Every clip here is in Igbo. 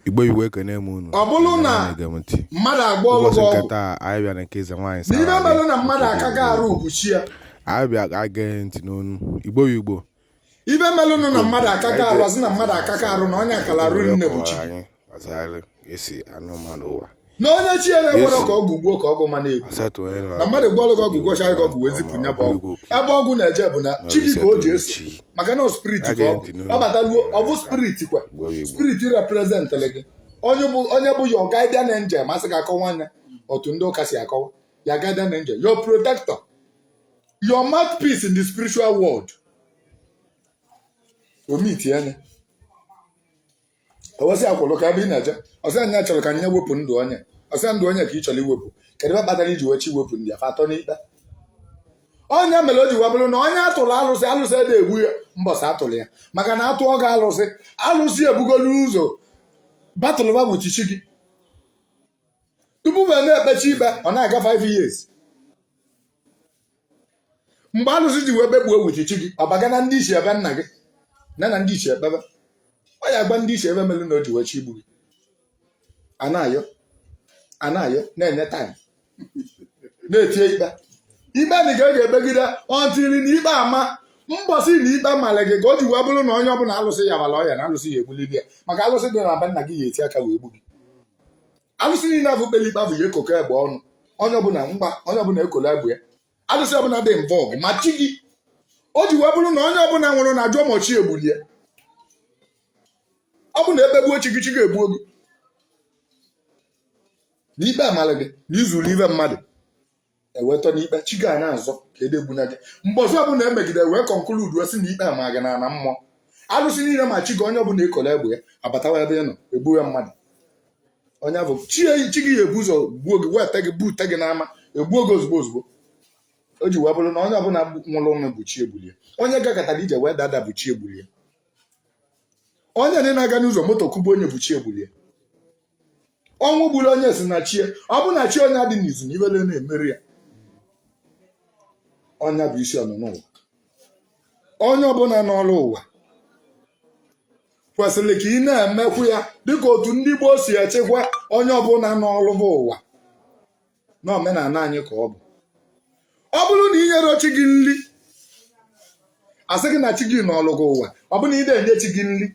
igbo igbo ekene m unu ọ bụrụ na mmadụ agwọọlụ gị ọgwụ taa anyị bịara nke eze nwaanyị sa n'ife mere na mmadụ akaghị arụ ukwuchi ya anyị bịa ege ntị n'onu igbo igbo ife melụnụ na mmadụ akaghị arụ a sị na mmadụ akaghị arụ na onye akala arụ nne bụ chi e si anọ mmadụ ụwa na onye chi ya na-ekwerọ ka ọgwụ gbuo ka ọgwụ ma na-egbu asatọ onye na mmadụ gwọrọ gị ọgwụ gwọcha gị ọgwụ wee zipụ ya bụ ọgwụ ebe ọgwụ na-eje bụ na chi gị ka o ji eso maka na spirit ka ọ bụ ọ bataluo ọ bụ spirit kwa spirit representịrị gị onye bụ onye bụ your guardian angel ma asị ka a kọwaa nya otu ndị ụka si akọwa ya guardian angel your protector your mouthpiece in the spiritual world o meetie nya o wee sị ya kwụrụ kee ebe ị na-eje ọ sị na ya chọrọ ka nya wepụ ndụ onye ọ sị ndụ onye ka ị chọrọ iwepụ kedu ife kpatara i ji wee chọ iwepụ ndụ ya fa atọ n'ikpe ọ nya mere o ji wee bụrụ na onye atụrụ alụsị alụsị ede egbu ya mbọsị atụrụ ya maka na a tụọ gị alụsị alụsị ebugolu ụzọ batụlụba bụ chichi gị tupu ma na-ekpecha ikpe ọ na-aga 5 years mgbe alụsị ji wee bekuo chichi gị ọ baga na ndị ichie be nna gị na na ndị ichie ekpebe ọ ya gwa ndị ichie ife mere na o ji wee chọ igbu gị a na-ayọ a na-ayọ na-enye time na-etie ikpe ikpe na a ga-ekpegide until na ikpe ama mbọsị na ikpe mara gị ka o ji wee bụrụ na onye ọbụla alụsị ya mara ọya na alụsị ya egbulili ya maka alụsị dị na be nna gị ya eti aka wee gbu gị alụsị niile afụ kpere ikpe afụ ya ekoko egbe ọnụ onye ọbụla mgba onye ọbụla ekolo egbe ya alụsị ọbụla dị involve ma chi gị o ji wee bụrụ na onye ọbụla nwụrụ na ajụọ ma chi ya gbulu ya ọ bụ na ekpegbuo chi gị chi gị egbuo gị na ikpe amala gị na i zuru ife mmadụ e wee tọ n'ikpe chi gị a na-azọ ka edegbuna gị mbọsị ọbụla e megide wee conclude wee sị na ikpe ama gị na ana mmụọ alụsị niile ma chi gị onye ọbụla ekolo egbe ya abatawa ebe ị nọ egbuwe mmadụ onye bụ chi eyi chi gị ya ebu ụzọ gbuo gị weta gị bute gị n'ama egbuo gị ozugbo ozugbo o ji wee bụrụ na onye ọbụla gbu- nwụrụ ọnwụ bụ chi ya gbulu ya onye gakọtara ije wee daa ada bụ chi ya gbulu ya onye niile na-aga n'ụzọ moto kụgbuo nya bụ chi ya gbulu ya ọnwụ gburu onye si na chi ya ọ bụ na chi onye adị n'izu na ife ede na-emeri ya ọ nya bụ isi ọnụnọ ụwa onye ọbụla nọrụ ụwa kwesịrị ka ị na-emekwu ya dịka otu ndị gboo si echekwa onye ọbụla nọrụ bụ ụwa na omenala anyị ka ọ bụ ọ bụrụ na i nyerọ chi gị nri asị gị na chi gị nọlụ gị ụwa ọ bụrụ na ị de enye chi gị nri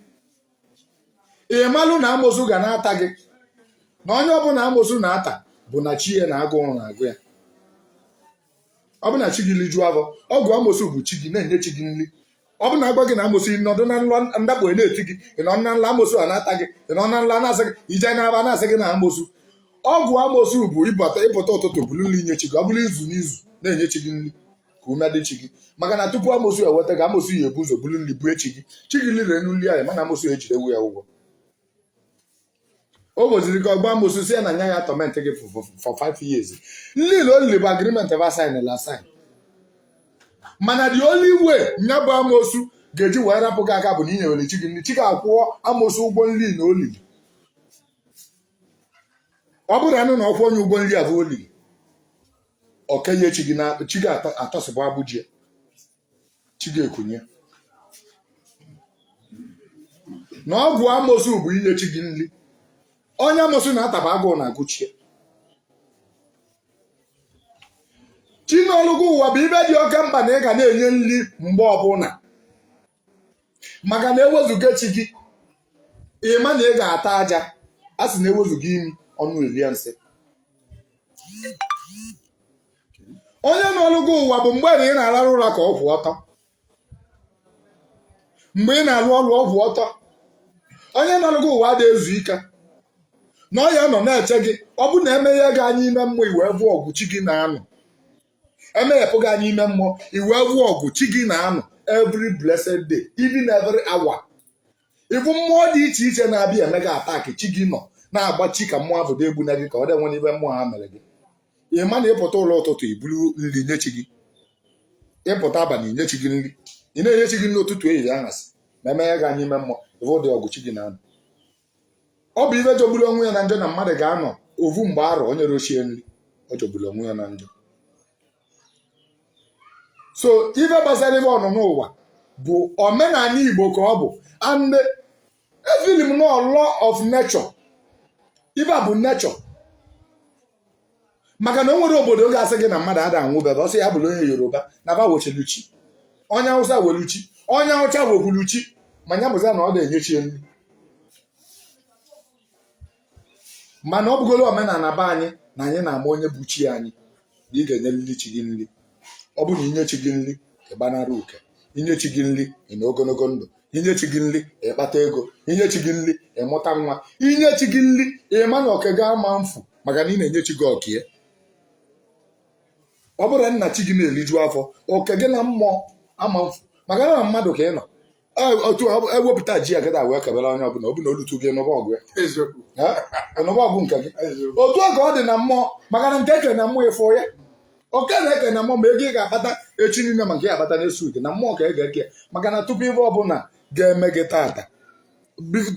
ị malụ na amosu ga na-ata gị na onye ọbụla amosu na-ata bụ na chi ya na agụrụ na-agụ ya ọ bụrụ na chi gị rijuo afọ ọgwụ amosu bụ chi gị na-enye chi gị nri ọ bụ na agwa gị na amosu nọdụ na nlọ ndakpo na-eti gị ị nọ na nla amosu a na-ata gị ị nọ na nla na-asị gị ije na-aba na-asị gị na amosu ọgwụ amosu bụ ịpụta ụtụtụ buru nri nye chi gị ọ bụrụ izu n'izu na-enye chi gị nri ka ume dị chi gị maka na tupu amosu eweta gị amosu ya ebu ụzọ buru nri bue chi gị chi gị lienu nri a ịma na amosu ejidewo ya ụgwọ ọ bụziri ka ọgba amosu sị na nya ya atorment gị for five years nri o lili bụ agreement ba sign la asign mana the only way nya bụ amosu ga-eji wee rapụ gị aka bụ na inyewere chi gị nri chi gị akwụọ amosu ụgwọ nri na o lili ọ bụrụ anụ na ọ kwụọ onye ụgwọ nri ahụ o lili oke nye chi gị na chi gị atọsịpụ agbụ ji e chi gị ekunie na ọgwụ amosu bụ inye chi gị nri onye amosu na-ataba agụụ na-agụ chi e chi nọlụ gị ụwa bụ ife dị oke mkpa na ị ga na-enye nri mgbe ọbụla maka na ewezuga chi gị ịma na ị ga-ata aja a sị na ewezuga imi ọnụ elie nsị onye nọrụ gị ụwa bụ mgbe na ị na-alarụ ụra ka ọ kwụ ọtọ mgbe ị na-alụ ọrụ ọ kwụ ọtọ onye nọrụ gị ụwa adị ezu ike na ọ ya nọ na-eche gị ọ bụ na emeghe gị anya ime mmụọ ị wee fụ ọgụ chi gị na-anụ emeghepụ gị anya ime mmụọ ị wee fụ ọgụ chi gị na-anụ every blessed day even every hour ị fụ mmụọ dị iche iche na-abịa eme gị attack chi gị nọ na-agbachi ka mmụọ ahụ dị egbuna gị ka ọ dị nwere ife mmụọ ha mere gị ị ma na ịpụta ụlọ ụtụtụ iburu nri nye chi gị ịpụta abalị nye chi gị nri ị na-enye chi gị nri ụtụtụ ehihie anyasị ma emeghe gị anya ime mmụọ ị fụ ụdị ọgụ chi gị na-anụ ọ bụ ife jọgburu onwe ya na njọ na mmadụ ga-anọ ovu mgbe arọ o nyero chi e nri ọ jọgburu onwe ya na njọ so ife gbasara ife ọnụnụ ụwa bụ omenala igbo ka ọ bụ and efeel m na ọ law of nature ife a bụ nature maka na o nwero obodo ga-asị gị na mmadụ ada anwụ be ba ọ sọ ya bụrụ onye yoruba na ba nwechalu chi onye awụsa nwelu chi onye awụsa nwekwulu chi ma ya bụzi na ọ dị enye chi e nri mana ọ bụgolo omenala be anyị na anyị na-ama onye bụ chi anyị na ị ga-enyelili chi gị nri ọ bụ na inye chi gị nri ịgbanara uke inye chi gị nri ịnọ ogologo ndụ inye chi gị nri ịkpata ego inye chi gị nri ịmụta nwa inye chi gị nri ịma na oke gị ama mfu maka na ị na-enye chi gị oke e ọ bụrụ na chi gị na-eriju afọ oke gị na mmụọ ama mfu maka na mmadụ ka ị nọ otu ewepụta ji agada wee kebere onye ọbụla ọ bụ na o lute gị n'ụba ọgụ n'ụba ọgụ nke gị otu a ka ọ dị na mmụọ maka na nke ekere na mmụọ ịfụ ya oke na ekere na mmụọ ma ego ị ga-akpata echi niile ma nke ị ga-akpata next week na mmụọ ka ị ga-eke ya maka na tupu ife ọbụla ga-eme gị tata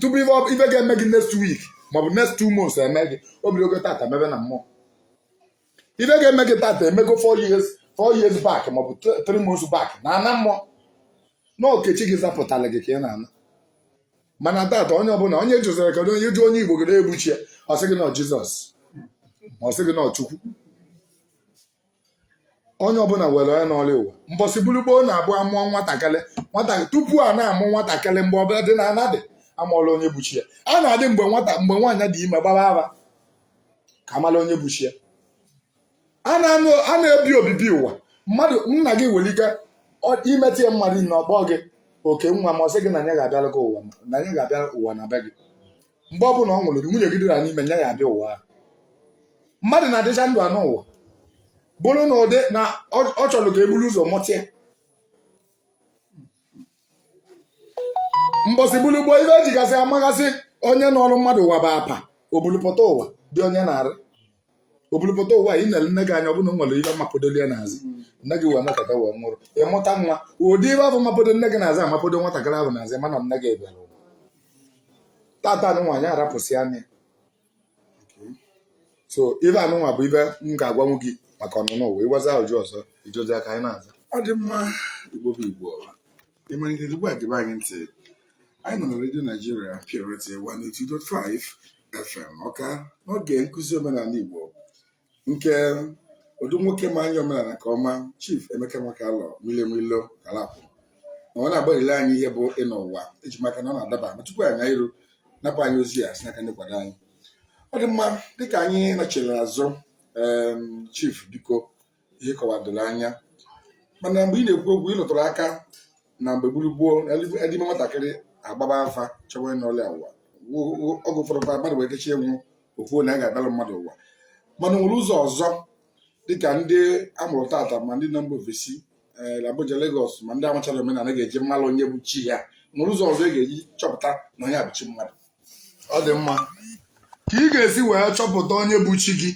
tupu ife ga-eme gị next week maọbụ next two months eme gị o bidogo tata mebe na mmụọ ife ga-eme gị tata emego 4 years 4 years back maọbụ 3 months back n'ana mmụọ na okechi gị zapụtara gị ka ị na-ana mana tata onye ọbụla onye jụzara kedu onye jụ onye igbo gịnị bụ chi ya ọ sị gị na ọ jizọs ma ọ sị gị na ọ chukwu onye ọbụla nwere onye nọrọ ya ụwa mbọsị buru gboo na-abụ a mụọ nwatakịrị nwata tupu a na-amụ nwatakịrị mgbe ọbụla dị na a na-adị amala onye bụ chi ya a na-adị mgbe nwata mgbe nwaanyị dị ime gbara afa ka a mala onye bụ chi ya a na-ebi obibi ụwa mmadụ nna gị nwere ike imetụ ya mmadụ na ọ kpọ gị oke nwa ma ọ sị gị na ya ga-abịara gị ụwa na ya ga-abịa ụwa na be gị mgbe ọ bụla ọ nwụrụ gị nwunye gị dịra n'ime ya ga-abịa ụwa ahụ mmadụ na-adịcha ndụ anọ ụwa bụrụ na ụdị na ọ chọrọ ka e buru ụzọ mụta ya mbọsị bulu gboo ife e jigasị amagasị onye nọrọ mmadụ ụwa bụ apa o bulu pụta ụwa dị onye n'arụ o bulu pụta ụwa ị nere nne gị anya ọ bụ na o nwere ihe mapodolu ya n'azụ nne gị wee nọkata wee nwụrụ ị mụta nwa ụdị ife afụ mapodo nne gị n'azụ amapodo nwatakịrị ahụ n'azụ ma na nne gị bịara ụwa tata anụnwa anyị arapụsị anya so ife anụnwa bụ ife m ga-agwanwu gị maka ọnụnọ ụwa i nwezi ajụjụ ọzọ ị jụzịa ka anyị na-aza ọ dị mma igbo bụ igbo ị malite ugbu a gebe anyị ntị anyị nọ na redio naijiria purity 102.5 fm ọka n'oge nkụzi omenala igbo nke otu nwoke ma anya omenala nke ọma Chief Emeka Nwakalọ Milimilo Kalapụ na ọ na-agbalile anyị ihe bụ ịnọ ụwa eji m aka na ọ na-adaba ma tupu anyị iru napụ anyị ozi a si n'aka ndị nkwado anyị ọ dị mma dịka anyị nachiri azụ Chief biko ihe ị kọwara doro anya mana mgbe ị na-ekwu okwu ị lụtụrụ aka na mgbe gburu gboo a dị ime nwatakịrị agbaba afa chọwa onye nọlụ ya ụwa oge ụfọdụ kwa mmadụ nwee ike chọọ ịnwụ o kwuo na ya ga-abịara mmadụ ụwa mana o nwere ụzọ ọzọ dịka ndị a mụrụ tata ma ndị nọ mba ofesi eh, Abuja Lagos ma ndị amacharọ omenala ga-eji mmalụ onye bụ chi ya nwere ụzọ ọzọ ị ga-eji chọpụta na onye a bụ chi mmadụ ọ dị mma ka ị ga-esi wee chọpụta onye bụ chi gị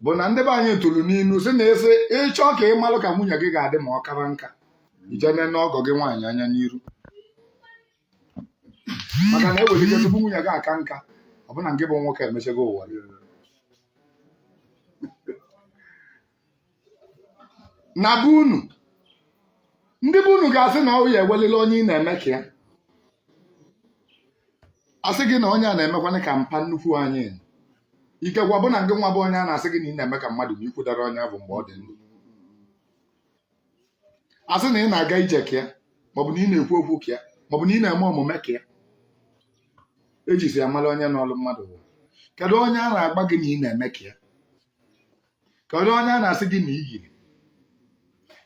bụ na ndị be anyị tụrụ n'inu sị na asị ị chọọ ka ị malụ ka nwunye gị ga-adị ma ọ kara nka i jee nee ọgọ gị nwaanyị anya n'iru maka na ewere ike tupu nwunye gị aka nka ọ bụ na ngị bụ nwoke emechego ụwa gị. na be unu ndị be unu ga-asị na ọ ya ewelele onye ị na-eme ka ya asị gị na onye a na-emekwanụ ka mpa nnukwu anyị ikekwa bụ na ngị nwa bụ onye a na-asị gị na ị na-eme ka mmadụ ma i kwudere onye ahụ mgbe ọ dị ndụ asị na ị na-aga ije ka ya maọbụ na ị na-ekwu okwu ka ya maọbụ na ị na-eme omume ka ya e jizi amala onye nọlụ mmadụ bụ kedu onye a na-agwa gị na ị na-eme ka ya kedu onye a na-asị gị na ị yiri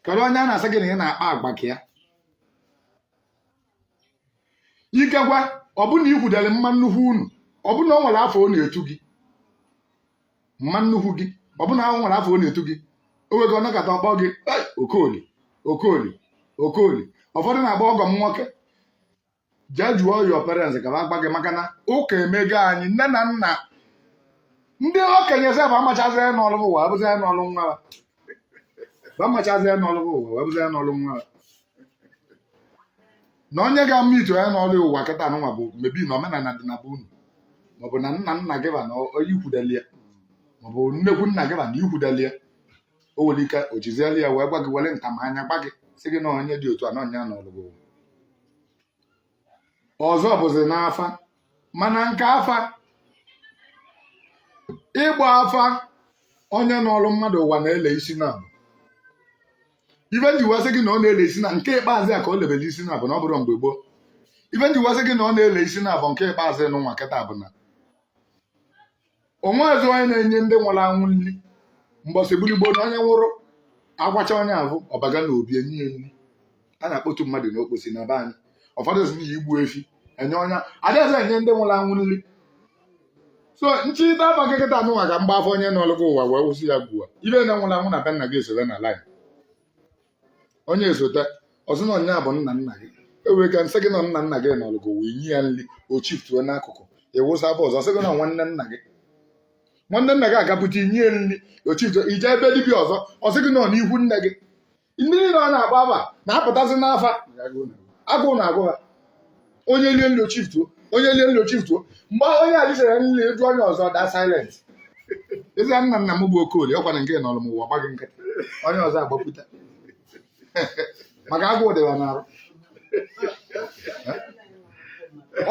kedu onye a na-asị gị na ị na-akpa agwa ka ya ikekwa ọ bụ na i kwudere mma nnukwu unu ọ bụ na o nwere afa ọ na-etu gị mma nnukwu gị ọ bụ na o nwere afa ọ na-etu gị o nwego ọ nọkata ọ kpọọ gị okoli okoli okoli ụfọdụ na-akpọ ọgọ m nwoke jee jụọ your parents ka ha gwa gị maka na ụka emego anyị nne na nna ndị okenye sef amachazi onye nọlụ ụwa abụzi onye nọlụ nwa ha. amachazi onye nọlụ ụwa wee bụzi onye nọlụ nwa ha. na onye ga-ama ito onye nọlụ ụwa kịta nụnwa bụ maybe na omenala dị na be unu maọbụ na nna nna gị ba na i kwudeli ya maọbụ nnekwu nna gị ba na i kwudeli ya o nwere ike o jizieli ya wee gwa gị were ntamanya gwa gị sị gị na onye dị otu a na ọ ya nọlụ gị ọzọ bụzi n'afa mana nke afa ịgba afa onye nọrụ mmadụ ụwa na-ele isi naabọ ife nji wee sị gị na ọ na-ele isi na nke ikpeazụ ya ka o lebere isi naabọ na ọ bụrụ mgbe gboo ife nji wee sị gị na ọ na-ele isi naabọ nke ikpeazụ nụnwa kịta bụ na o nwezi onye na-enye ndị nwụrụ anwụ nri mbọsị gburigbo na onye nwụrụ akwacha onye ahụ ọ baga n'obi enye ya nri a na-akpọtu mmadụ n'okposi na be anyị ụfọdụ sị na igbu efi enye onye adịzi enye ndị nwụrụ anwụ nri so m chịta afa kịta nụnwa ka m gbaa afa onye nọlụ gị ụwa wee wụsị ya bụ afa ife nine nwụrụ anwụ na be nna gị esere na line onye esote ọ sị na nya bụ nna nna gị ewee ka nsị gị na nna nna gị nọlụ gị wee nye ya nri o shiftuo n'akụkụ ị wụsa afa ọzọ ọ sị gị na ọ nwanne nna gị nwanne nna gị agapụta i nye ya nri o shiftuo i jee ebe dibịa ọzọ ọ sị gị na ọ n'ikwu nne gị ndị niile ọ na-agba afa na-apụtasị n'afa agụụ na-agụ ha onye lie nri o chief tuo onye lie nri o chief tuo mgbe ahụ onye ali sere nri eju onye ọzọ da silent ezi nna nna m bụ okolie ọkwa na nke nọrọ m ụwa gbaghị nkịtị onye ọzọ agbapụta maka agụụ dịwa n'arụ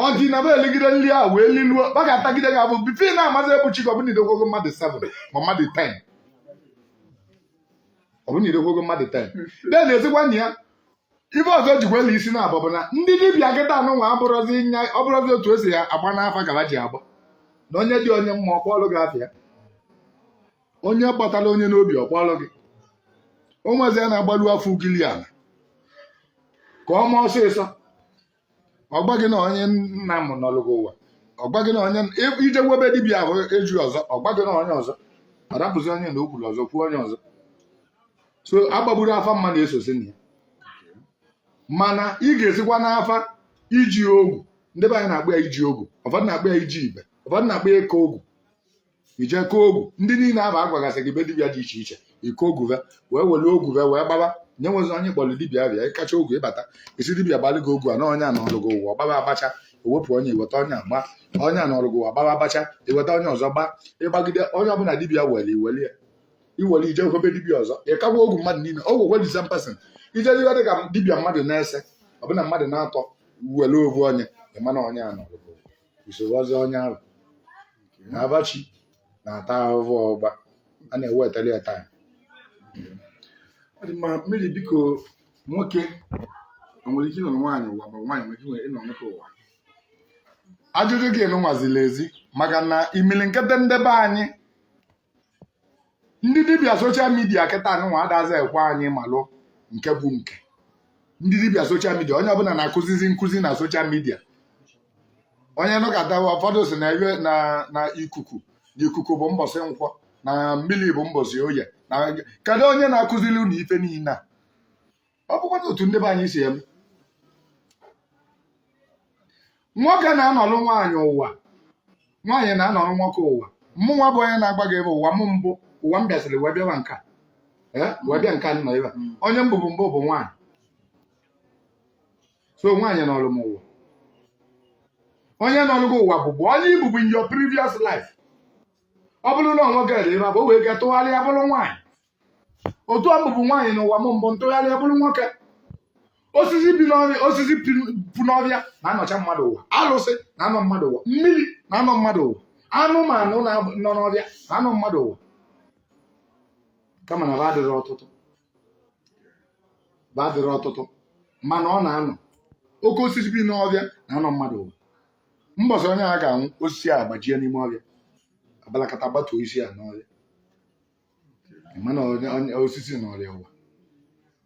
ọ dị na be eligide nri a wee liluo ọ ga-atagide gị ahụhụ bụ ife na-amazi ebuchi gị ọbụna idogwogo mmadụ 7 ma mmadụ 10 ọbụna idogwogo mmadụ 10 then ezigbo nna ya ife ọzọ jikwela isi na abụ bụ na ndị dibịa kịta anụnwa abụrọzi nya ọ bụrọzi otu e si ya agba n'afa ka ha ji agba na onye dị onye mma ọ kpọọlụ gị afa ya onye gbatara onye n'obi ọ kpọọlụ gị o nwezi ya na-agbalu afa ugili ala ka ọ ma ọsịsọ ọ gwa gị na onye nna m nọrọ gị ụwa ọ gwa gị na onye i jewe be dibịa ahụ eje ọzọ ọ gwa gị na onye ọzọ ọ rapụzi onye na o kwuru ọzọ kwuo onye ọzọ so agbagburu afa mma na-esozi na ya mana ị ga-esikwa n'afa iji ogwu ndị be anyị na-akpọ ya iji ogwu ụfọdụ na-akpọ ya iji ibe ụfọdụ na-akpọ ya ịka ogwu i je kaa ogwu ndị niile ahụ a gwagasị gị be dibịa dị iche iche ị kaa ogwu ve wee were ogwu ve wee gbaba nye nwezi onye kpọrọ dibịa bịa ị kacha ogwu ị bata ị sị dibịa gbalị gị ogwu a na onye a nọrụ gị ụwa gbaba a gbacha e wepụ onye i weta onye a gba onye a nọrụ gị ụwa gbaba a gbacha i weta onye ọzọ gba ị gbagide onye ọbụla dibịa were i were ya i were i jekwe be dibịa ọzọ ị kakwa ogwu mmadụ niile ogwu welisa mpasị ije dịwa dị ka dibịa mmadụ na ise ọ bụrụ na mmadụ na atọ were ovu onye ị ma na onye a nọrụ so ọ bụzi onye ahụ na abachi na-ata ahụhụ ọgba a na-ewetara ya taa ọ dị mma maazị biko nwoke o nwere ike ịnọ nwaanyị ụwa ma nwaanyị nwere ike ịnọ- ịnọ nwoke ụwa ajụjụ gị anụnwa ziri ezi maka na imilikiti ndị be anyị ndị dibịa soshal midia kịta anụnwa adazi ekwe anyị malụ nke bụ nke ndị dibịa soshal midia onye ọbụla na-akụzizi nkụzi na soshal midia onye nụkọtawa ụfọdụ sị na ee na ikuku na ikuku bụ mbọsị nkwọ na mmiri bụ mbọsị oye na kedu onye na-akụziri unu ife niile a ọ bụkwa otu ndị be anyị si eme nwoke na-anọlụ nwaanyị ụwa nwaanyị na-anọlụ nwoke ụwa mụ nwa bụ onye na-agwa gị ebe ụwa m mbụ ụwa m bịasịrị wee bịawa nke a ee wee bịa nke a nọ ebe a. onye m bụbu mbụ bụ nwaanyị so nwaanyị nọlụ m ụwa onye nọlụ gị ụwa bụbu onye ị bụbu in your previous life ọ bụrụ na nwoke dị ebe a, o nwee ike tụgharịa bụrụ nwaanyị otu a m bụbu nwaanyị n'ụwa m mbụ m tụgharịa bụrụ nwoke osisi bi n'ọfịa osisi pi- pu n'ọfịa na-anọcha mmadụ ụwa alụsị na-anọ mmadụ ụwa mmiri na-anọ mmadụ ụwa anụmanụ na- nọ n'ọfịa na-anọ mmadụ ụwa kama na ba adịrọ ọtụtụ ba adịrọ ọtụtụ mana ọ na-anọ oke osisi bi n'ọfịa na-anọ mmadụ ụwa mbọsị onye a ga-anwụ osisi a agbajie n'ime ọfịa abalakata gbatuo osisi a n'ọfịa mana onye- onye- osisi nọrọ ya ụwa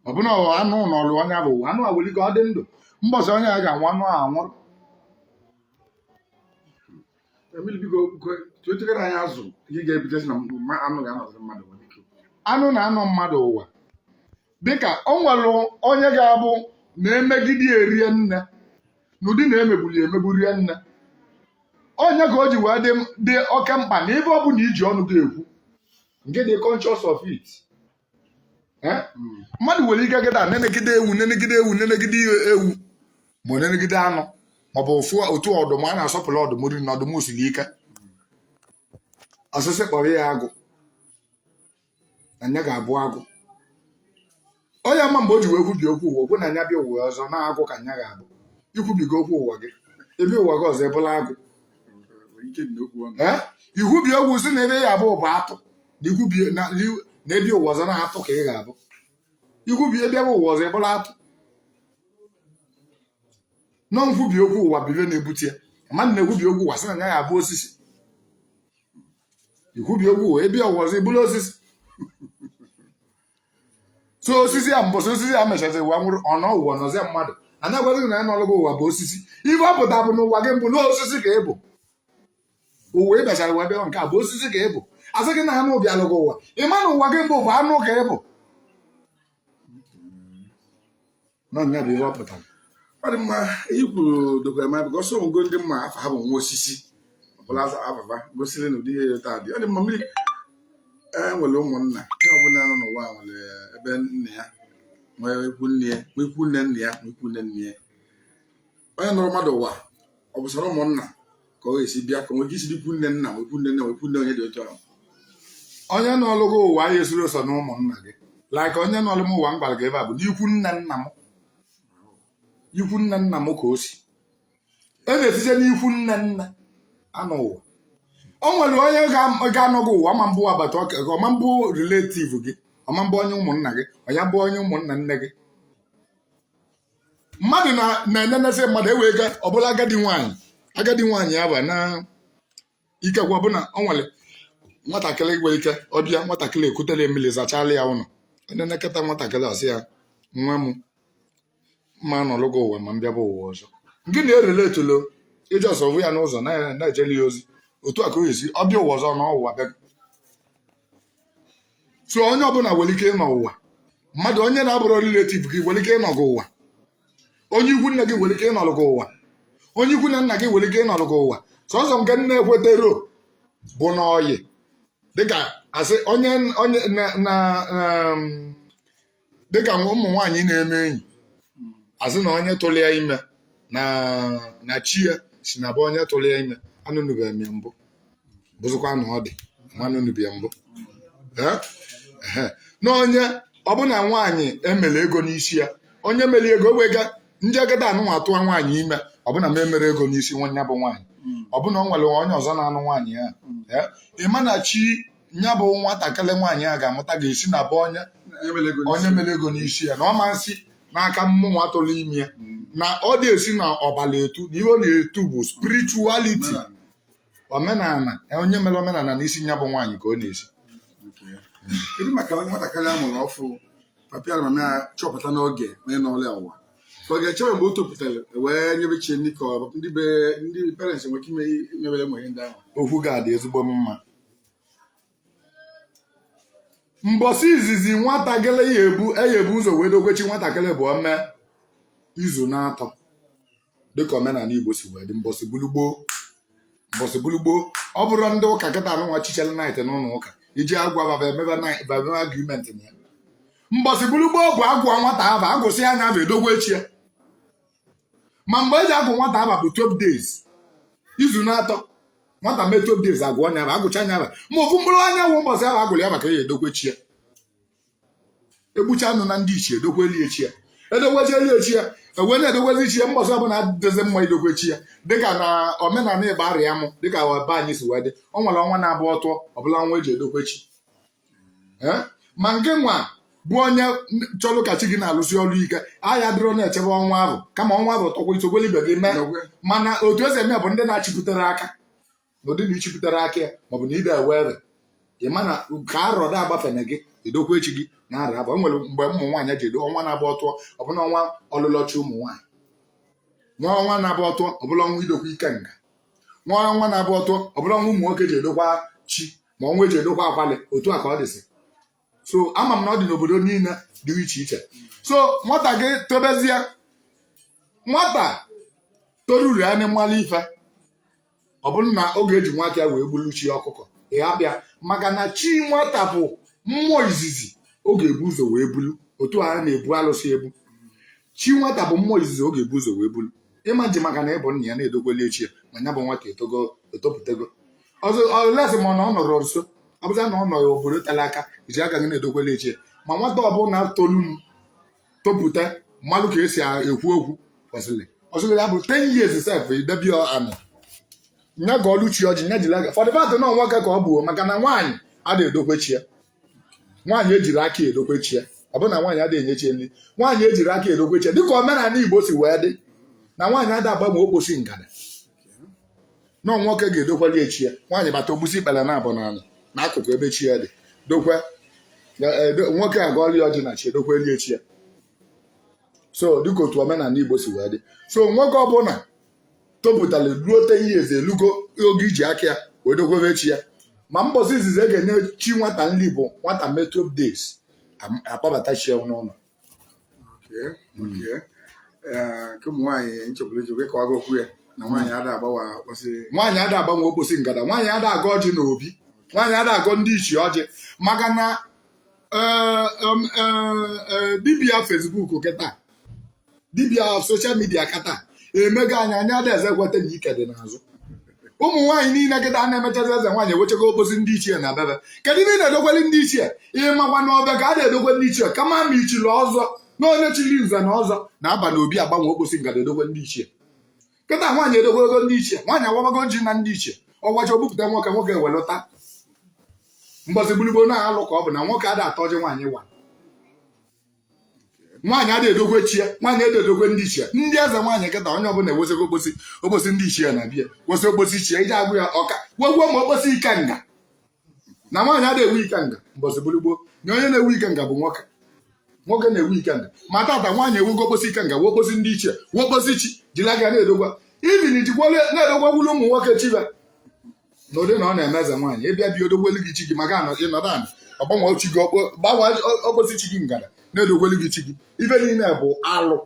ọ bụ na ọ anụ nọrọ onye afụ ụwa anụ a nwelụ ike ọ dị ndụ mbọsị onye a ga-anwụ anụ a anwụrụ Emil biko tuochegara anyị azụ ihe ga-ebidozi na mma- anụ ga-anọzi mmadụ nwere ike anụ na-anọ mmadụ ụwa dịka o nwere onye ga-abụ na e megide ya rinne n'ụdị na e megburu ya emegbu rinne ọ nya ka o ji wee dị dị oke mkpa na ife ọ bụla i ji ọnụ gị ekwu ka ị dị conscious of it Eh? mmadụ nwere ike gịda nenegide ewu nenegide ewu nenegide ewu ma ọ nenegide anụ maọbụ ọ fụ otu ọdụm a na-asọpụrụ ọdụm rinne ọdụm siri ike ọ sị sị kpọrọ ya agụ na nya ga-abụ agụ onye ama mgbe o ji wee kwubi okwu ụwa o kwu na nya bịa ụwa ọzọ na agụ ka nya ga-abụ i kwubigo okwu ụwa gị bịa ụwa gị ọzọ ị bụlụ agụ i kwubie okwu sị na ife ị ga-abụ bụ atụ na ị bịa ụwa ọzọ na atụ ka ị ga-abụ i kwubie ị bịa ụwa ọzọ ị bụlụ atụ na ọ nkwubi okwu ụwa bụ ife na-ebute ya mmadụ na-ekwubi okwu ụwa sị na ya ga-abụ osisi i kwubie okwu ị bịa ụwa ọzọ ị bụlụ osisi so osisi a mbọsị osisi a mechazi ụwa nwụrụ ọ nọọ ụwa nọzie mmadụ a na-agwazi gị na onye nọlụ gị ụwa bụ osisi ife ọ pụta bụ na ụwa gị mbụ na osisi ka ị bụ ụwa ị bịachara wee bịa nke a bụ osisi ka ị bụ a sị gị na anụ bịalụ gị ụwa ị ma na ụwa gị mbụ bụ anụ ka ị bụ na nya bụ ihe ọ pụtara ọ dị mma ihe kwuru dokwa ma bụ ọsọ ngo ndị mma afa ha bụ nwa osisi ọbụla aza ababa gosiri na ụdị ihe ya taa dị ọ dị mma mmiri nwere ụmụnna ihe ọbụla nọ n'ụwa a nwere ebe nna ya nwee ikwu nne ya nwee ikwu nne nna ya nwee ikwu nne nne ya onye nọrọ mmadụ ụwa ọ bụrọ sọ ụmụnna ka ọ ga-esi bịa ka nwee ike isi n'ikwu nne nna nwee ikwu nne nna nwee ikwu nne onye dị otu ahụ onye nọlụ gị ụwa esirọ sọ na ụmụnna gị like onye nọlụ m ụwa m gwara gị ebe a bụ n'ikwu nne nna m ikwu nne nna m ka o si a na-esite n'ikwu nne nna anọ ụwa o nwere onye ga-anọ gị ụwa ọ ma-abụ agbata ọka gị ọ ma-abụ relative gị ọ ma-abụ onye ụmụnna gị ọ nya bụ onye ụmụnna nne gị mmadụ na-enenezi mmadụ ewee ga ọbụla agadi nwaanyị agadi nwaanyị ya bụ na ikekwa bụ na ọ nwere nwatakịrị nwere ike ọ bịa nwatakịrị ekutere mmiri zachala ya ụlọ enenekata nwatakịrị ọ sị ya nwa m mma nọlụ gị ụwa ma m bịaba ụwa ọzọ gị na-erele etulo iji ọsọ vụ ya n'ụzọ na-ejeli ya ozi otu a ka o esi ọ bịa ụwa ọzọ nọ ụwa bịa so onye ọbụla nwere ike ịnọ ụwa mmadụ onye na-abụrọ relative gị nwere ike ịnọ gị ụwa onye ikwu nne gị nwere ike ịnọrọ gị ụwa onye ikwu na nna gị nwere ike ịnọrọ gị ụwa sọsọ nke m na-ekwetarọ bụ na ọyị dịka asị onye onye na na na, um, dịka ụmụ nwaanyị na-eme enyi asị na onye tụrụ ya ime na na chi ya si na be onye tụrụ ya ime anụnụbeghị m ya mbụ bụzikwa na ọ dị ma anụnụbe ya mbụ Ee? Ehe. na onye ọbụna nwaanyị emere ego n'isi ya onye mere ego wega ndị agada anụnwa atụwa nwaanyị ime ọbụna m emerọ ego n'isi nya bụ nwaanyị ọbụna o nwere onye ọzọ na-anụ nwaanyị a Ee? ị ma na chi nya bụ nwatakịrị nwaanyị a ga-amụta ga-esi na be onye onye mere ego n'isi ya na ọ ma-esi n'aka mmụnwa tụrụ ime ya na ọ dị esi n'ọbala etu na ihe ọ na-etu bụ spirituality omenala onye mere omenala n'isi nya bụ nwaanyị ka ọ na-esi kedu maka onye nwatakịrị a mụrụ ọfụụ papa ya na mama ya chọpụta n'oge onye nọlụ ya ụwa ka ọ ga-echebe mgbe o topụtara wee nyebe chi ndị ka ọ- ndị be ndị parents nwere ike ime imebere nwa ihe ndị ahụ ọ ga-adị ezigbo mma mbọsị izizi nwatakịrị ya ebu e ya-ebu ụzọ wee dogwe chi nwatakịrị bụ o mee izu na-atọ dịka omenala igbo si wee dị mbọsị ọ bụlụ gboo mbọsị ọ bụlụ gboo ọ bụrụ ndị ụka kịta anụnwa chichere night n'ụlọ ụka eji agwa baba emebe nai- baba emebe agreement na ya mbọsị ọ bụlụ gboo bụ agụọ nwata ava agụsịa nya ava edogwe chi ya ma mgbe eji agụ nwata ava bụ 12 days izu na atọ nwata mee 12 days agụọ nya ava agụchaa nya ava ma ofu mkpụrụ anyanwụ ụbọchị avụ agụrụ ya maka ya edokwe chi ya egbucha anụ na ndị ichie edokweli ya chi ya edokwechieli ya chi ya ewee na-edokwezi chi ya mbọchị ọbụla adịzi mma idokwe chi ya dịka na omenala Igbariam dịka be anyị si wee dị ọ nwere ọnwa na-abụ o tuo ọ bụrụ ọnwa eji edokwe chi Eh? ma ngịnwa bụ onye chọrọ ka chi gị na-alụsi ọrụ ike ị adịrọ na-echebe ọnwa ahụ kama ọnwa ahụ tuokwa i sokwolu ibe gị mee N'okwe. mana otu esi eme bụ ndị na-achịpụtere aka n'ụdị na ichipụtere aka ya maọbụ na ide ewere ị ma na ka arọ da agbafena gị edokwe chi gị na arọ avụ enwere mgbe ụmụ nwaanyị ji edo ọnwa na-abụ o tuo ọ bụrụ ọnwa ọlụlọ chi ụmụ nwaanyị nwee ọnwa na-abụ o tuo ọ bụrụ ọnwa idokwe ikenga nwee ọnwa na-abụ o tuo ọ bụrụ ọnwa ụmụ nwoke ji edokwe chi ma ọnwa eji edokwa akwali otu a ka ọ dịsị so ama m na ọ dị n'obodo niile dị iche iche so nwata gị tobezie nwata toruru ya n'ịmalụ ife ọ bụrụ na ọ ga-eji nwa aka ya wee gburu chi ọkụkọ ị hapụ ya maka na chi nwata bụ mmụọ izizi ọ ga-ebu ụzọ wee bulu otu a a na-ebu alụsị ebu chi nwata bụ mmụọ izizi ọ ga-ebu ụzọ wee bulu ị ma-eji maka na ị bụ nna ya na-edokweli ya chi ya ma ya bụ nwata etogo etopụtago ọzọ unless ma na ọ nọrọ nso ọ bụzi na ọ nọrọ obodo tere aka iji aka gị na-edokweli ya chi ya ma nwata ọbụla tolu topụta malụ ka esi ekwu okwu kwesịrị ọ sị ya bụ 10 years sef i debe ya anị nya gọọlụ chi ọjị nya jiri aka for the fact na ọ nwoke ka ọ bụ maka na nwaanyị ada edokwe chi ya nwaanyị ejirọ aka edokwe chi ya ọ bụ na nwaanyị ada enye chi nri nwaanyị ejirọ aka edokwe chi ya dịka omenala Igbo si wee dị na nwaanyị ada agbanwe okposi ngada na nwoke ga-edokweli ya chi ya nwaanyị bata o gbusie ikpere naabọ n'ala n'akụkụ ebe chi ya dị dokwe nwoke agọọli ya ọjị na chi edokweli ya chi ya so dịka otu omenala Igbo si wee dị so nwoke ọbụla topụtara ruo ten years elugo oge iji aka ya wee dokwebe chi ya ma mbọsị izizi e ga-enye chi nwata nri bụ nwata mee 12 days am- akpọbata chi ya n'ụlọ Okay, okay. Eh, nke ụmụ nwaanyị nchekwara eji wee kọwago okwu ya na nwaanyị ada agbanwe okposi nwaanyị ada agbanwe okposi ngada nwaanyị ada agọ ọjị na obi nwaanyị ada agọ ndị ichie ọjị maka na eh, um, eh, eh, dibịa Facebook kịta dibịa social media kịta emego anyị anya Adaeze kweta na ike dị n'azụ ụmụ nwaanyị niile kịta a na-emechazi eze nwaanyị ewechego okposi ndị ichie na be fa kedu ihe ị na-edokweli ndị ichie ị makwa na ofeke ada edokwe ndị ichie kama ma i chiri ọzọ na onye chiri nze na ọzọ na-aba n'obi agbanwe okposi ngada edokwe ndị ichie kịta nwaanyị edokwego ndị ichie nwaanyị awabago ọjị na ndị ichie ọ wacha o bupụta nwoke nwoke ewelu taa mbọsị bụrụ gboo na alụ ka ọ bụ na nwoke ada ata ọjị nwaanyị wa nwaanyị ada edokwe chi ya nwaanyị ada edokwe ndị ichie ndị eze nwaanyị kịta onye ọbụla ewesịgo okposi okposi ndị ichie na be ya wesị okposi ichie iji agwụ ya aka wekwuo ma okposi ikenga na nwaanyị ada ewu ikenga mbọsị bụrụ gboo na onye na-ewu ikenga bụ nwoke nwoke na-ewu ikenga ma tata nwaanyị ewu okposi ikenga wee okposi ndị ichie wee okposi chi jiri aka na-edokwe ife a jikwa na-edokwekwulu ụmụ nwoke chi fa na ụdị na ọ na-eme eze nwaanyị ị bịa be ya o dokwelu gị chi gị maka na ị nọdụ ana ọ gbanwe chi gị gbanwe okposi chi gị ngada na-edokwelu gị chi gị ife niile bụ alụ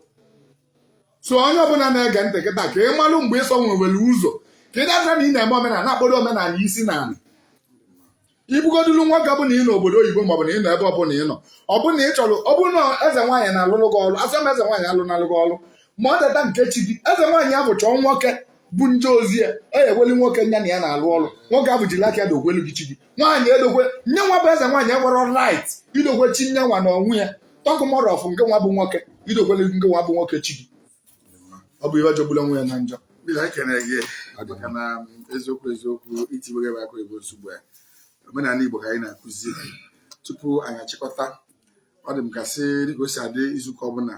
so onye ọbụla na-ege ntị kịta ka ị malụ mgbe ịsọ nwewere ụzọ ka ị da-asị na ị na-eme omenala na-akpọdo omenala isi n'ala ị bụgodulu nwoke bụ na ị nọ obodo oyibo maọbụ na ị nọ ebe ọbụla ị nọ ọ bụrụ na ị chọrọ ọ bụrụ na eze nwaanyị na-alụrụ gị ọrụ asọ m eze nwaanyị alụnalụ gị ọrụ ma ọ teta nke chi gị eze nwaanyị ahụ chọọ nwoke bụ nje ozi ya eweli nwoke nya na ya na-alụ ọrụ nwoke ahụ jiri aka ya dokwelu gị chi gị nwaanyị edokwe nya nwa bụ eze nwaanyị enwerọ right idokwe chi nya nwa na onwe ya talk more of ngị nwa bụ nwoke idokwelu ngị nwa bụ nwoke chi gị ọ bụ ihe jọgbulu onwe ya na njọ Bill, anyị kenere gị maka na um, eziokwu eziokwu i tiwere m akụ ego nsogbu a omenala Igbo ka anyị na-akụzi tupu anyị achịkọta ọ dị m ka sị dịka o si adị izuụka ọbụla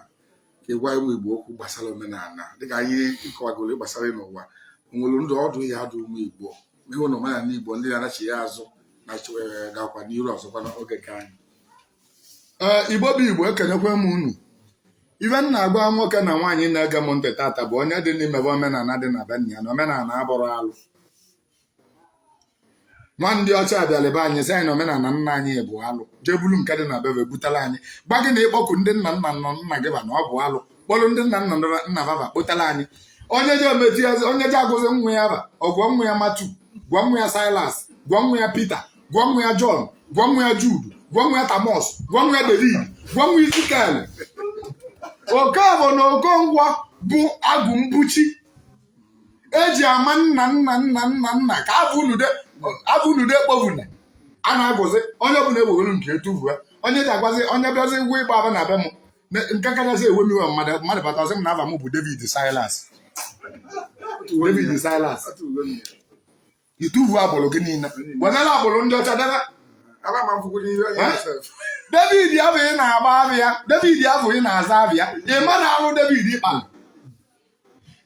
ka ị gwa ụmụ Igbo okwu gbasara omenala dịka anyị ịkọwagoro gbasara ịnọ ụwa o nwere ndụmọdụ ị ya-adụ ụmụ Igbo ịhụ na omenala Igbo ndị na-anachigha azụ na eh, gakwa n'iru ọzọkwa n'oge nke anyị eh, Igbo bụ Igbo ekenekwa m unu ife m na-agwa nwoke na nwaanyị na-ege m ntị tata bụ onye dịnụ mebe omenala dị na be nna ya na omenala abụrọ alụ na ndị ọcha bịalụ be anyị sị anyị na omenala nna anyị bụ alụ jee bulu nke dị na be ba butelu anyị gwa gị na ịkpọku ndị nna nna nna nna gị ba na ọ bụ alụ kpọrọ ndị nna nna nna nna ba kpọtalụ anyị onye je emeti ya onye je agụzi nwa ya aba ọ gụọ nwa ya Matthew gụọ nwa ya Silas gụọ nwa ya Peter gụọ nwa ya John gụọ nwa ya Jude gụọ nwa ya Thomas gụọ nwa ya David gụọ nwa Ezekiel Okafọ na Okonkwọ bụ agụ mbọchị e ji ama nna nna nna nna nna ka afọ unude afọ unude kpọbuna a na-agụzi onye ọbụla ewere nke ya tuvue onye je agwazi onye bịazi ụgwọ ịgba aba na be m Me- nke kachasị ewe m iwe mmadụ mmadụ bata sị m na aba m bụ David Silas David Silas i tuvue agbụrụ gị niile wenala agbụrụ ndị ọcha debe david abụ ị na-agba aba ya david abụ ị na-aza aba ya ị ma na alụ david kpalụ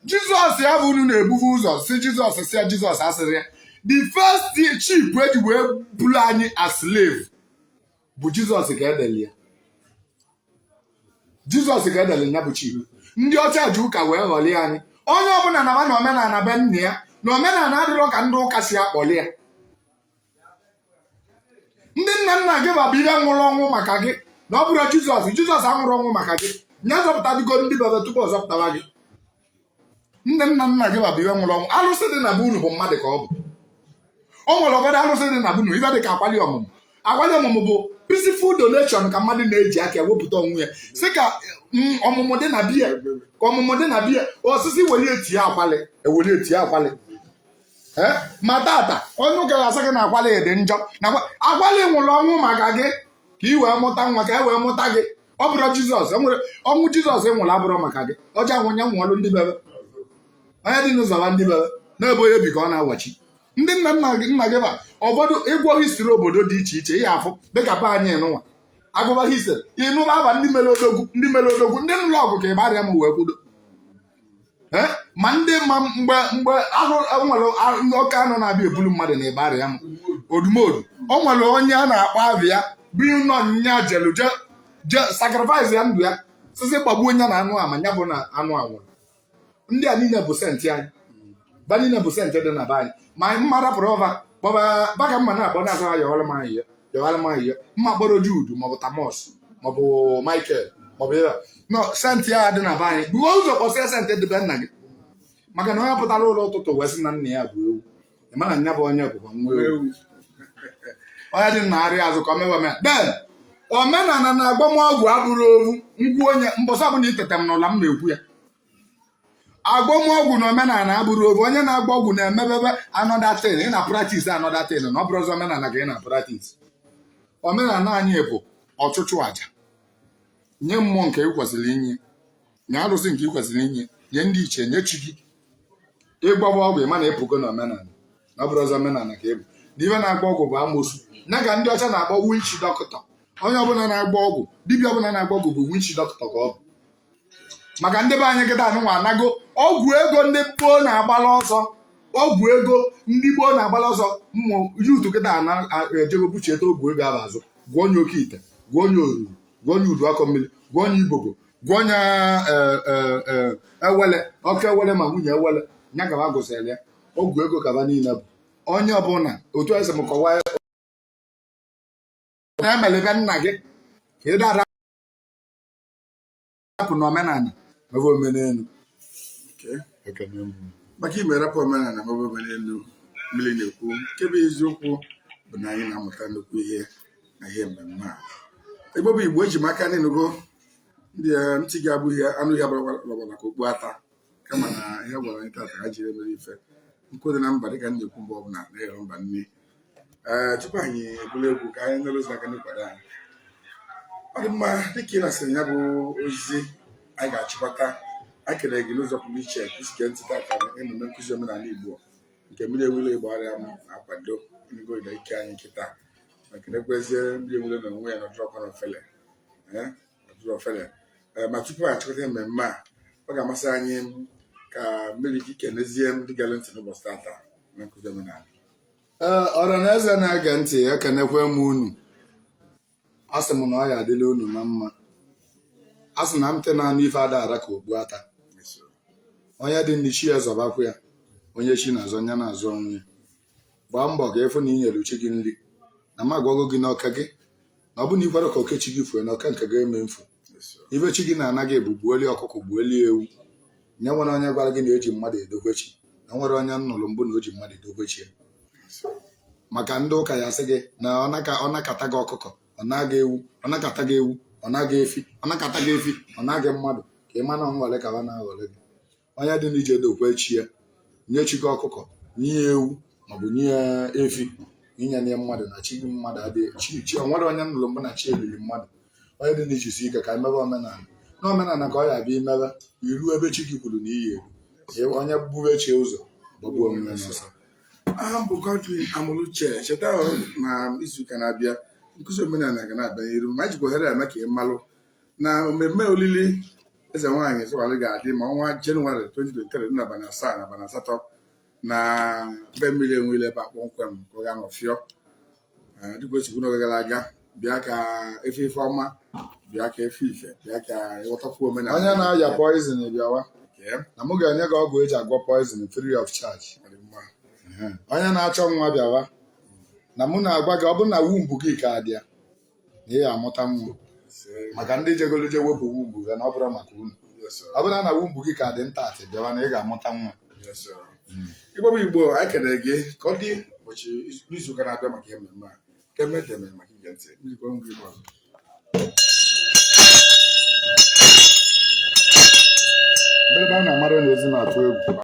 jizọs abụ unu na-ebuve ụzọ sị jizọs sị ya jizọs asịrị ya the first ship e ji wee buru anyị as slave bụ jizọs ka e deli ya jizọs ka e deli ya bụ ship ndị ọcha ji ụka wee ghọlịa anyị onye ọbụla naba na omenala be nna ya na omenala adịrọ ka ndị ụka si akpọlị ya ndị nna nna gị ba bụ ife nwụrụ ọnwụ maka gị na ọ bụrọ jizọs jizọs anwụrọ ọnwụ maka gị nya zọpụtago ndị be ba tupu ọ zọpụtaba gị ndị nna nna gị ba bụ ife nwụrụ ọnwụ alụsị dị na be unu bụ mmadụ ka ọ bụ o nwere ụfọdụ alụsị dị na be unu ife dị ka akwali ọmụmụ akwali ọmụmụ bụ peaceful donation ka mmadụ na-eji aka ewepụta onwe ya sị ka mm, ọmụmụ dị na be ya ka ọmụmụ dị na be ya ọ sị sị weli ya tinye akwali e weli ya tinye akwali Eh, ma tata onye ụka ga-asị gị na akwali dị njọ na akwa- akwali nwụrụ ọnwụ maka gị ka i wee mụta nwa ka e wee mụta gị ọ bụrọ jizọs ọnwụ jizọs nwụlụ abụrọ maka gị ọ je anwụ nya nwụọlụ ndị be ba onye dịnụ zọba ndị be ba na ebe onye bi ka ọ na-awachi ndị nna nna gị nna gị ba ụfọdụ ị gụọ history obodo dị iche iche ihe afụ dịka be anyị nụnwa agụba history ị nụba aba ndị mere odogwu ndị mere odogwu ndị nụlụ ọgụ ka ịbarịa ma wee kwudo eh? ma ndị ma mgbe mgbe nwere oke anụ na-abịa ebulu mmadụ na Igbariam odumodu o nwere onye a na-akpọ abịa ya bụ nọ nya jelu je sacrifice ya ndụ ya sị sị gbagbuo onye na anụ ama ya bụ na anụ anwụrụ ndị a niile bụ saint anyị ba niile bụ saint dị na be anyị ma anyị mma rapụrụ ọba kpọba ba ka mma na-akpọ na-azụ ya ọrụ m anyị ya jewara m ihe mma kpọrọ Jude maọbụ Thomas maọbụ Michael maọbụ ya nọ saint ya dị na be anyị buo ụzọ kpọsịa saint dị be nna gị maka na onye pụtara ụlọ ụtụtụ wee sị na nna ya bụ ewu ị ma na nya bụ onye bụkwa nwa ewu onye dị na arịa azụ ka o mewe mee then omenala na agbamọgwụ abụrọ ovu ngwu onye mbọsị ọbụla iteta m n'ụla m na-ekwu ya agbamọgwụ na omenala abụrọ ovu onye na-agba ọgwụ na-emebebe another thing ị na practice another thing na ọ bụrọzị omenala ka ị na practice omenala anyị bụ ọchụchụ aja nye mmụọ nke ị kwesịrị inye nye arụsị nke ị kwesịrị inye nye ndị ichie nye chi gị ị gbaba ọgwụ ị ma na ị pụgo na omenala na ọ bụrọzị omenala ka ị bụ na ife na-agba ọgwụ bụ amosu nya ka ndị ọcha na-akpọ witch doctor onye ọbụla na-agba ọgwụ dibịa ọbụla na-agba ọgwụ bụ witch doctor ka ọ bụ maka ndị be anyị kịta anụnwa anago ọgwụ ego ndị gboo na-agbala ọsọ ọgwụ ego ndị gboo na-agbala ọsọ ụmụ youth kịta ejego buchieta ọgwụ ego ahụ azụ gwọnye oke ite gwọnye oruru gwọnye udu akọ mmiri gwọnye ibobo gwọnye awele oke awele ma nwunye awele nya ka ba gụsịrị ya ọgwụ ego ka ba niile bụ onye ọbụla otu esi m kọwaa na-emelebe nna gị ka ị dara hapụna omenala mebe omenelu maka ime rapụ omenala mebe omenelu mmiri na-ekwu nke bụ eziokwu bụ na anyị na-amụta nnukwu ihe na ihe mmemme a Igbo bụ Igbo eji m aka na ị nụgo ndị eh, ntị gị abụghị anụ ya gbaragbara ka okpu ata kama na ihe gwara anyị tata ha jiri mere ife nkụ dị na mba dịka m na-ekwu mgbe ọbụla na-eghere mba nri ee tupu anyị ebulu egwu ka anyị nụrụ ozi aka na-akwado anyị ọ dị mma dịka ị nụsịrị ya bụ ozi anyị ga-achịkọta anyị kelee gị n'ụzọ pụrụ iche i si gee ntị tata na emume nkụzi omenala Igbo nke mmiri enwe ilo Igbariam na-akwado ego ịda ike anyị nkịta ma kelekwezie mmiri enwe ilo na onwe ya na ọ dịrọkwa ofele ee ọ dịrọ ofele ee ma tupu anyị achịkọta mmemme a ọ ga-amasị anyị ka mmiri gị kenezie ndị gere ntị n'ụbọchị tata na nkụzi omenala ee ọra na eze na-ege ntị ekenekwe m unu asị m na ọ ya-adịlị unu na mma a sị na ntị na-anụ ife ada ara ka okpu ata onye dị ndụ chi ya zọbakwa ya onye chi na-azọ nya na-azọ onwe ya gbaa mbọ ka ị fụ na ị nyere chi gị nri na m agwago gị na oke gị na ọ bụ na ị kwere ka oke chi gị fue na oke nke gị eme mfu ife chi gị na-ana gị bụ gbuoli ọkụkọ gbuoli ewu nye ya o nwere onye gwara gị na eji mmadụ edokwe chi o nwere onye m nụrụ mbụ na o ji mmadụ edokwe chi ya. maka ndị ụka ya-asị gị na ọ naka- ọ nakata gị ọkụkọ ọ naa gị ewu ọ nakata gị ewu ọ naa gị efi ọ nakata gị efi ọ naa gị mmadụ ka ị ma na ọ nghọlị ka fa na-aghọlị gị onye dị nya jee dokwe chi ya nye chi gị ọkụkọ nye ya ewu maọbụ nye ya efi ị ya-enye mmadụ na chi gị mmadụ adịghị chi chi o nwere onye nụrụ mbụ na chi ya riri mmadụ onye dị nya jisie ike ka emebe omenala na omenala ka ọ ya-abịa imebe iru ebe chi gị kwuru na ị ya-eru onye bube chi ụzọ gbagbuo onwe ya n'ọsọ aha m bụ Godwin Amoluche cheta na izuụka na-abịa nkụzi omenala ga na-abịa n'iru ma jikwa ohere a eme ka ị malụ na mmemme olili eze nwaanyị Sowore ga-adị n'ime ọnwa Jenụwarị 2023 dị n'abalị asaa na abalị asatọ na be mmiri enwe ilo ebe a kpọmkwem ka ọ ga-anọ fịọ Eh, dịka o si kwuo n'oge gara aga bịa ka ị fụ ife ọma bịa ka ị fụ ife bịa ka ị ghọtakwuo omenala onye na-aya poison bịawa Kee, na mụ ga-enye gị ọgwụ eji agwọ poison free of charge ọ dị mma. onye na-achọ nwa bịawa na mụ na-agwa gị ọ bụrụ na womb gị ka dị ya na ị ga-amụta nwa maka ndị jegoro je wepụ womb gị na ọ bụrọ maka unu ọ bụrụ na womb gị ka dị intact bịawa na ị ga-amụta nwa igbo bụ igbo anyị ekelee gị ka ọ dị ụbọchị n'izu ụka na-abịa maka ememme a ka emee deeme maka ige ntị ndị kwere ngwa igbo ọzọ mgbe ebe a na-amara na ezi na-atụ egwu